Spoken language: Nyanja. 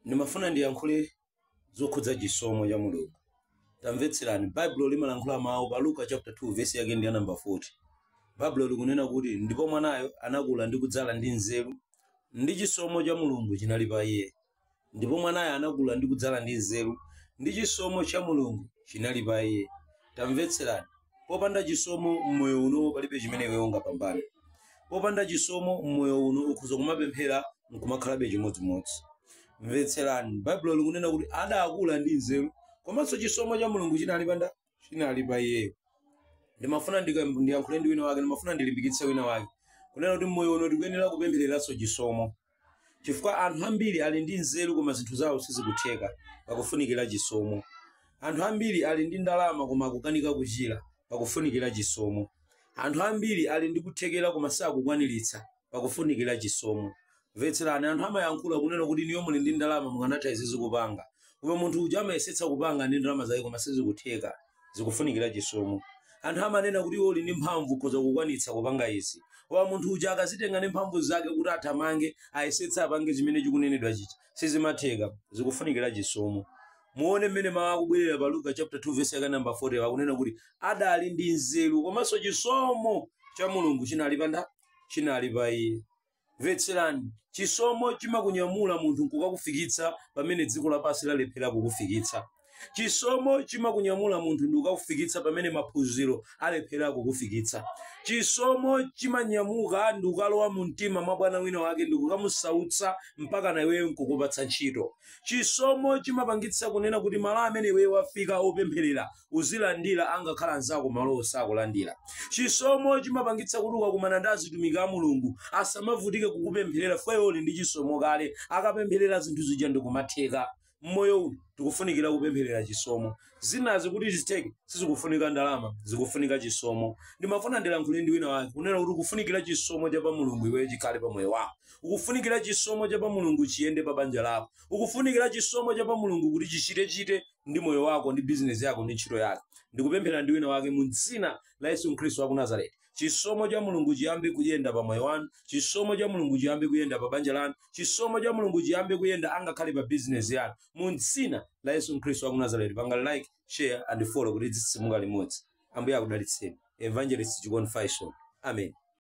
ndimafuna ndiyankhule zokhudza chisomo cha mulungu tamvetserani baibulo limalankhula mawu pa luka chapter 2 vesi yake ndi ya namba 40 baibulo likunena kuti ndipo mwanayo anakula ndi kudzala ndi nzeru ndi chisomo cha mulungu chinali pa iye ndipo mwanayo anakula ndi kudzala ndi nzeru ndi chisomo cha mulungu chinali pa iye Tamvetserani, popanda chisomo mmoyo uno palibe chimene iwe ungapambane. Popanda chisomo mmoyo uno ukhoza kumapemphera nkumakhalabe chimodzimodzi. Mvetserani, Baibulo likunena kuti adakula ndi nzeru, komanso chisomo cha Mulungu chinali pa iye. Ndimafuna ndiyankhule ndi wina wake, ndimafuna ndilimbikitse wina wake kunena kuti mmoyo uno tikuyenera kupemphereranso chisomo. chifukwa anthu ambiri ali ndi nzeru koma zinthu zawo sizikutheka pakufunikira chisomo anthu ambiri ali ndi ndalama koma akukanika kuchira pakufunikira chisomo anthu ambiri ali ndi kuthekera koma sakukwaniritsa pakufunikira chisomo mvetserani anthu amayankhula kunena kuti inuyo muli ndi ndalama mukanatha izi kupanga koma munthu uja amayesetsa kupanga ndi ndalama zake koma sizikutheka zikufunikira chisomo anthu amanena kuti iwe uli ndi mphamvu ukhoza kukwanitsa kupanga izi koma munthu uja akadzitenga ndi mphamvu zake kuti athamange ayesetse apange chimene chikunenedwa chija sizimatheka zikufunikira chisomo muone mmene mawu akubwerera pa luka chapter 2 verse yake namba 40 akunena kuti adali ndi nzeru komanso chisomo cha mulungu chinali pa nda chinali pa iye Mvetserani, Chisomo chimakunyamula munthu nkukakufikitsa pamene dziko lapansi lalephera kukufikitsa. Chisomo chimakunyamula munthu ndi kukakufikitsa pamene maphunziro alephera kukufikitsa. Chisomo chimanyamuka ndi kukalowa mu mtima mwa bwana wina wake ndi kukamusautsa mpakana iweyo nkukupatsa ntchito. Chisomo chimapangitsa kunena kuti malo amene iweyo wafika opemphera uzilandira angakhala anzako malowo sakulandira. Chisomo chimapangitsa kuti ukakumana ndi azitumiki a Mulungu asamavutike kukupempherera chifukwa iwe uli ndi chisomo kale. Akapempherera zinthu zija ndikumatheka. Mmoyo uno tikufunikira kupempherera chisomo. Zinazi kuti zitheke sizikufunika ndalama, zikufunika chisomo. Ndimafuna ndilankhule ndi wina wake kunena kuti ukufunikira chisomo cha pa Mulungu iweyo chikhale pa moyo wako. Ukufunikira chisomo cha pa Mulungu chiyende pa banja lako. Ukufunikira chisomo cha pa Mulungu kuti chichite-chite ndi moyo wako ndi bizinesi yako ndi ntchito yako ndikupemphera ndi wina wake mu dzina la yesu khristu wa ku nazareti chisomo cha mulungu chiyambe kuyenda pa moyo wanu chisomo cha mulungu chiyambe kuyenda pa banja lanu chisomo cha mulungu chiyambe kuyenda angakhale pa bizinesi yanu mu dzina la yesu khristu wa ku nazareti panga like share and follow kuti titsitsimuke limodzi ambuye akudalitseni evangelist chikondi faison amen